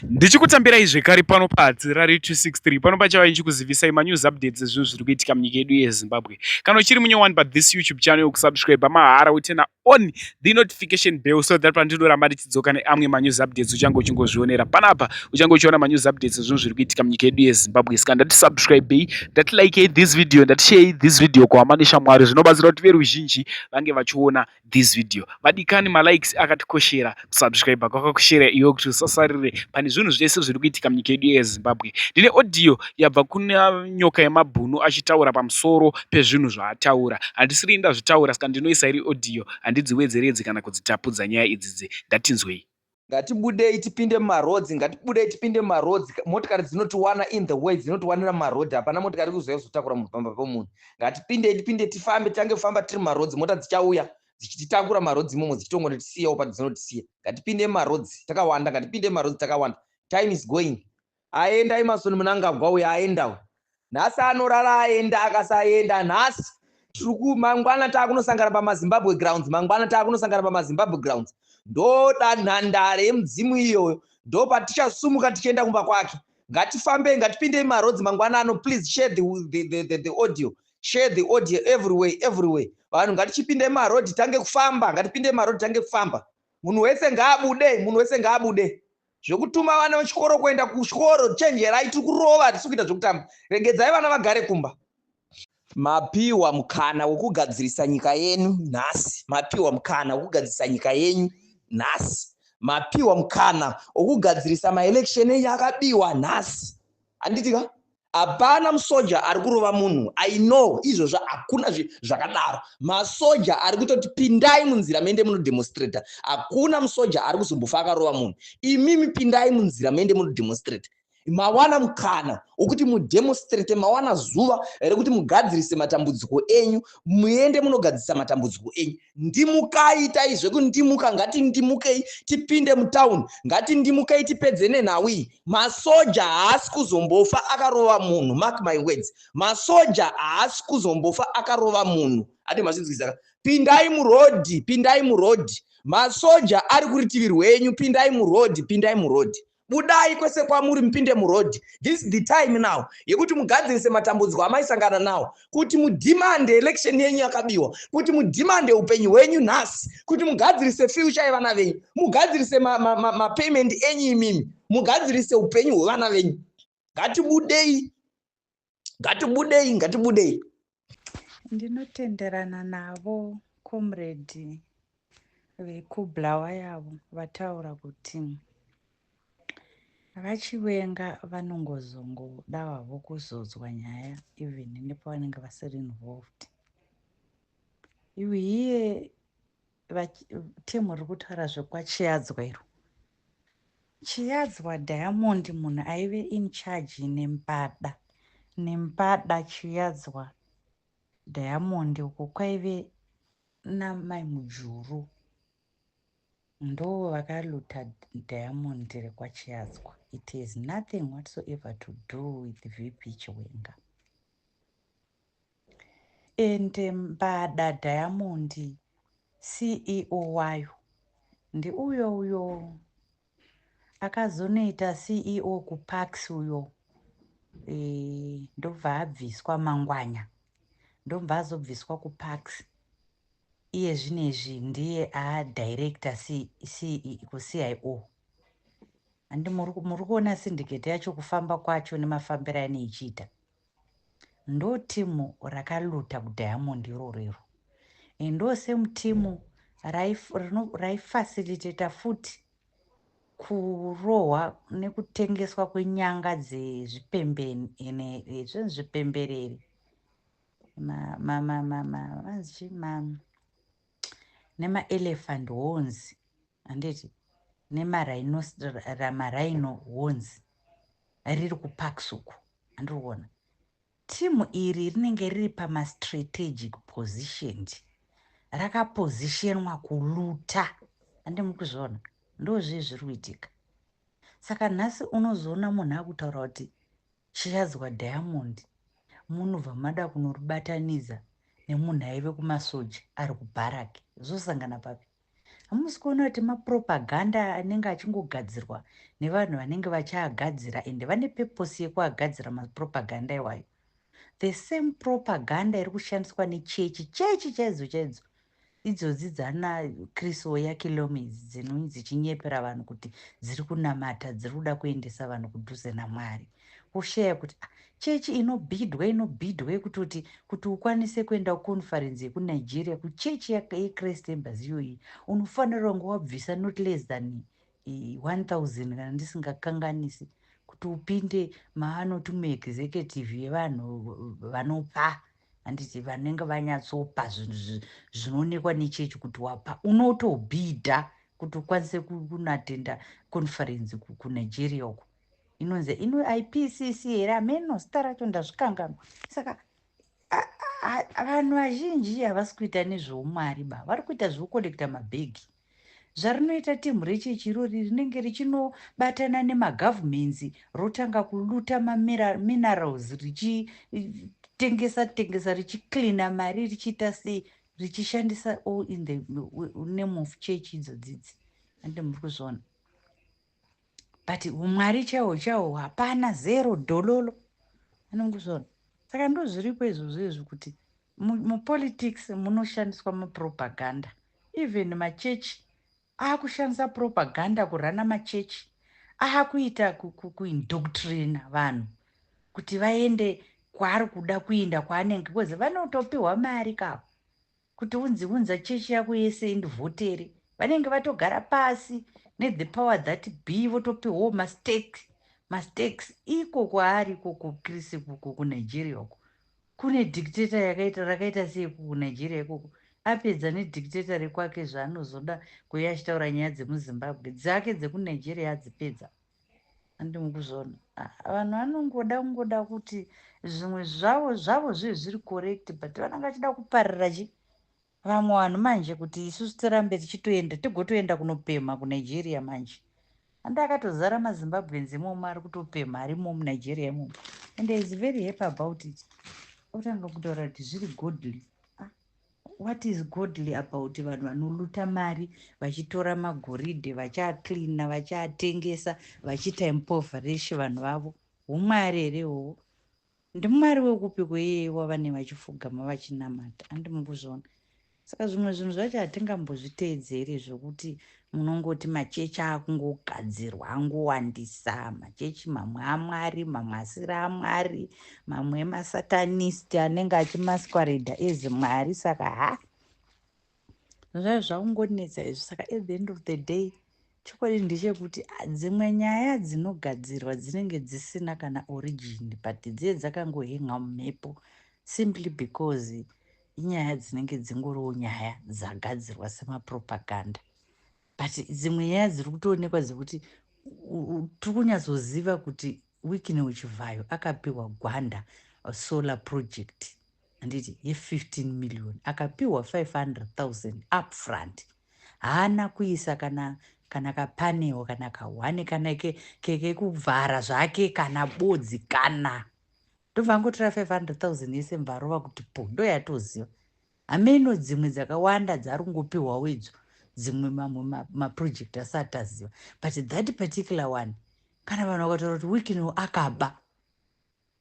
ndichikutambirai zvekare pano pahatsi rari 263 pano pachava ichikuzivisai manews updates ezvinhu zviri kuitika munyika yedu yezimbabwe kana uchiri munyowani pa this youtube channel yokusubscribe mahara utena on the notification bell so that pandidoramba ndichidzoka neamwe manews updates uchange uchingozvionera panapa uchange uchiona manews updates ezvinhu zviri kuitika munyika yedu yezimbabwe saka ndati subscribei ndati likei this video ndati sharei this video kuhama neshamwari zvinobatsira kuti veruzhinji vange vachiona this video vadikani malikes akatikoshera kusubscribe kwakakoshera iwe kuti usasarire pane zvinhu zvese zviri kuitika munyika yedu yezimbabwe ndine audio yabva kuna nyoka yemabhunu achitaura pamusoro pezvinhu zvaataura handisiri ndazvitaura saka ndinoisa iri audio handidziwedzeredzi kana kudzitapudza nyaya idzidzi ndatinzwei ngatibudei tipinde mumarodzi ngatibudei tipinde mumarodzi motikari dzinotiwana in the way dzinotiwanira mumarodhi hapana motikari kuzouya kuzotakura munhu pamba pomunhu ngatipindei tipinde tifambe tange kufamba tiri mumarodzi mota dzichauya dzichititakura mumarodzi imomo dzichitongonotisiyawo padzinotisiya ngatipinde mumarodzi takawanda ngatipinde mumarodzi takawanda time is going aenda Emerson Munangagwa uyo aenda uyo nhasi anorara aenda akasaenda nhasi tiri ku mangwana taakunosangana pamazimbabwe grounds mangwana taakunosangana pamazimbabwe grounds ndoda nhandare yemudzimu iyoyo ndo patichasumuka tichienda kumba kwake ngatifambei ngatipindei marodzi mangwana ano please share the, the, the, the, the audio share the audio everyway everyway vanhu ngatichipindei marodhi tange kufamba ngatipindei marodhi tange kufamba munhu wese ngaabude munhu wese ngaabude zvekutuma vana vechikoro kuenda kuchikoro chenjerai tiri kurova tisi kuita zvekutamba regedzai vana vagare kumba mapiwa mukana wekugadzirisa nyika yenu nhasi mapiwa mukana wekugadzirisa nyika yenyu nhasi mapiwa mukana wekugadzirisa maelection enyu akabiwa nhasi handitika Hapana musoja ari kurova munhu. I know izvozvo hakuna zvakadaro. Masoja ari kutoti pindai munzira mende munodemonstrata. Hakuna musoja ari kuzombofa akarova munhu. Imimi pindai munzira mende munodemonstrata. Mawana mukana wokuti mudemonstrate, mawana zuva rekuti mugadzirise matambudziko enyu, muende munogadzirisa matambudziko enyu. ndimukai itai zvekundimuka ngatindimukei tipinde mutown ngatindimukei tipedze nenhau iyi masoja haasi kuzombofa akarova munhu mark my words masoja haasi kuzombofa akarova munhu ati mazvinzwisaka pindai murodhi pindai murodhi masoja ari kuritivi rwenyu pindai murodhi pindai murodhi budai kwese kwamuri mupinde muroad this is the time now yekuti mugadzirise matambudziko amaisangana nawo kuti mudhimande election yenyu yakabiwa kuti mudhimande upenyu hwenyu nhasi kuti mugadzirise future yevana venyu mugadzirise mapayment ma, ma, ma enyu imimi mugadzirise upenyu hwevana venyu ngatibudei ngatibudei ngatibudei ndinotenderana navo comrade vekublawa yavo vataura kuti vachivenga vanongozongoda vavo kuzodzwa nyaya even nepavanenge vasiri involved iwe iye team ri kutaura zvekwachiyadzwa iro chiyadzwa diamond munhu aive in charge nempada nempada chiyadzwa diamond uko kwaive namai mujuru ndo vakaluta diamond rekwachiyadzwa it has nothing whatsoever to do with vp chiwenga Ende mbada diamond ceo wayo ndiuyo uyo akazonoita ceo kuparks uyo e, ndobva abviswa mangwanya ndobva azobviswa kuparks iye zvinezvi ndiye adirector kuceo andi muri kuona syndicate yacho kufamba kwacho nemafambiro aine ichiita Ndo team raka looter ku diamond iroro iro and ndo same team rai facilitator futi kurohwa nekutengeswa kwenyanga dzezvipembenezvo zvipembereri vanzi chii nema elephant honzi Handiti nemarhino wonzi riri kuparks uku handiri kuona team iri rinenge riri pamastrategic positioned rakapositionwa kuluta handi mukuzviona ndozvii zviri kuitika saka nhasi unozoona munhu akutaura kuti chiyadzwa diamond munobva mada kunoribatanidza nemunhu aive kumasoja ari kubharaki zvosangana papi Hamusi kuona kuti mapropaganda anenge achingogadzirwa nevanhu vanenge vachiagadzira ende vane purpose yekuagadzira mapropaganda iwayo. The same propaganda iri kushandiswa nechechi chechi chaidzo chaidzo idzodzi dzana Chris Oyakhilome idzi dzinonzi dzichinyepera vanhu kuti dziri kunamata, dziri kuda kuendesa vanhu kudhuze naMwari. Kushare kuti ah church inobhidhwa inobhidhwa yekutoti kuti ukwanise kuenda kuconference yekuNigeria kuchurch yeChrist Embassy iyoyi unofanira kunge wabvisa not less than 1000 kana ndisingakanganisi kuti upinde maanoti muexecutive yevanhu vanopa handiti vanenge vanyatsopa zvinhu zvinoonekwa nechechi kuti wapa unotobhidha kuti ukwanise kunatenda conference kunigeria uko inonzi ino ipcc here hameno zita racho ndazvikanganwa saka vanhu vazhinji havasi kuita nezveumwari ba vari kuita zvekukonekta mabhegi zvarinoita timhu rechechi irori rinenge richinobatana nemagovernments rotanga kuluta maminerals richitengesa tengesa richicleana mari richiita sei richishandisa all in the name of church idzo dzidzi ande muri kuzviona but humwari chawo chawo hapana zero dololo anongusvona saka ndozviripo izvozvo izvi kuti mupolitics munoshandiswa mapropaganda even machechi akushandisa propaganda kurana machechi akuita kuindoctrina ku, ku vanhu kuti vaende kwaari kuda kuinda kwaanenge bcause vanotopiwa mari kavo Kuti unzi unza chechi yako yese indivhotere vanenge vatogara pasi ne the power that be votopihwawo mastakes mastakes iko kwaari iko ku Chris ikuku ku Nigeria uko kune dictator yakaita rakaita sei ku Nigeria ikoko apedza ne dictator rekwake zvaanozoda kuuya achitaura nyaya dzemu Zimbabwe dzake dzeku Nigeria adzipedza handi mukuzona ah, vanhu vanongoda kungoda kuti zvimwe zvavo zvavo zvive zviri correct but vanenge vachida kuparira chi vamwe vanhu manje kuti isusu tirambe tichitoenda tigotoenda kunopemha kunigeria manje andi akatozara mazimbabweans imomo ari kutopemha ari imo munigeria imomo and is very happy about it otanga kutaura kuti zviri godly What is godly about vanhu vanoluta mari vachitora magoridhe vachiacleana vachiatengesa vachiita impoverishe vanhu vavo humwari here ihoho ndimwari wekupi kweyeye wavane vachifugama vachinamata andi mukuzoona saka zvimwe zvinhu zvacho hatingambozviteedzeri zvokuti munongoti machechi akungogadzirwa angowandisa machechi mamwe amwari mamwe asiri amwari mamwe emasatanist anenge achimasquareda ezi mwari saka ha zvai zvakungonetsa izvi saka at the end of the day chokwadi ndechekuti ah, dzimwe nyaya dzinogadzirwa dzinenge dzisina kana origin but dziye dzakangohenga mumhepo simply because inyaya dzinenge dzingoriwo nyaya dzagadzirwa semapropaganda but dzimwe nyaya dziri kutoonekwa dzekuti tiri kunyatsoziva kuti wikine uchivhayo akapiwa gwanda uh, solar project handiti ye15 million akapiwa 500 000 upfront haana kuisa kana kana kapanewo kana kahwani kana kekuvhara ke, ke zvake kana bodzi kana Ndobva angotora 500,000 yese mvarova kuti po ndoyatoziva hameno dzimwe dzakawanda dzari kungopihwawo idzo dzimwe mamwe maproject ma asati taziva but that particular one kana vanhu vakataura kuti wikino akaba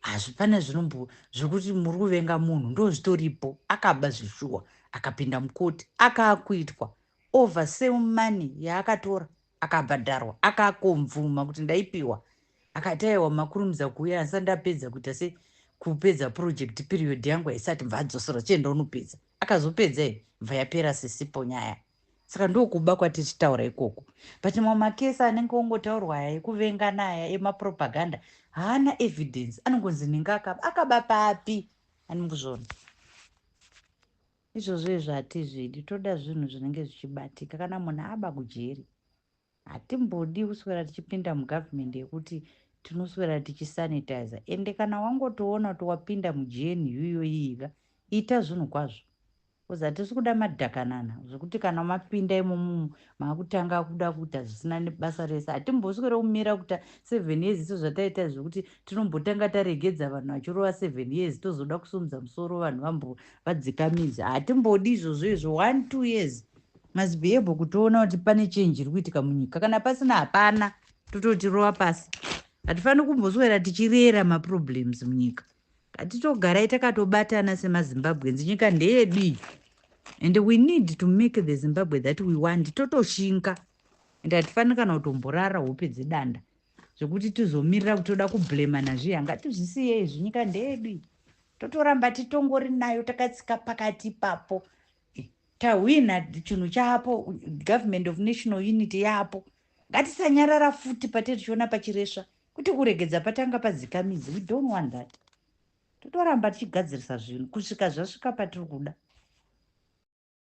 hazvipana zvinombo zvekuti muri kuvenga munhu ndo zvitoripo akaba zvishuwa akapinda mukoti akaakuitwa over same money yaakatora akabhadharwa akakonvuma kuti ndaipiwa akati aiwa makurumidza kuuya asi andapedza kuita se kupedza project period yangu haisati bva adzosera chienda unopedza akazopedza i bva yapera sisipo nyaya saka ndokuba kwatichitaura ikoko but mamwe makesi anenge ongotaurwa aya ekuvengana aya emapropaganda haana evidence anongonzi nhinga akaba akaba papi anikuzvona Izvozvo hatizvidi toda zvinhu zvinenge zvichibatika kana munhu aba kujeri hatimbodi kuswera tichipinda mugovernment yekuti tinoswera tichisanitizer ende kana wangotoona kuti wapinda mugnu yoyiiga ita zvinhu kwazvo bcause hatisi kuda madhakanana zvekuti kana mapinda imomumu makutanga kuda kuita zvisina nebasa rese hatimboswere kumira kuta seven years iso zvataita zvekuti tinombotanga taregedza vanhu vachirova seven years tozoda kusumudza musoro vanhu vambo vadzikamidza hatimbodi izvozvo izvo one two years must be able kutoona kuti pane chenji iri kuitika munyika kana pasina hapana tototirova pasi hatifaniri kumboswera tichirera maproblems munyika Ngatitogarai takatobatana semaZimbabweans nyika ndeyedu iyi and we need to make the Zimbabwe that we want totoshinga and hatifaniri kana kutomborara hope dzedanda zvekuti tizomirira kuti toda kublema nazviya ngatizvisiye izvi nyika ndeyedu iyi totoramba titongori nayo takatsika pakati ipapo Eh, tahwina chinhu chaapo government of national unity yaapo ngatisanyarara futi pate tichiona pachiresva Kuti kuregedza patanga padzika midzi, we don't want that. Totoramba tichigadzirisa zvinhu kusvika zvasvika patiri kuda.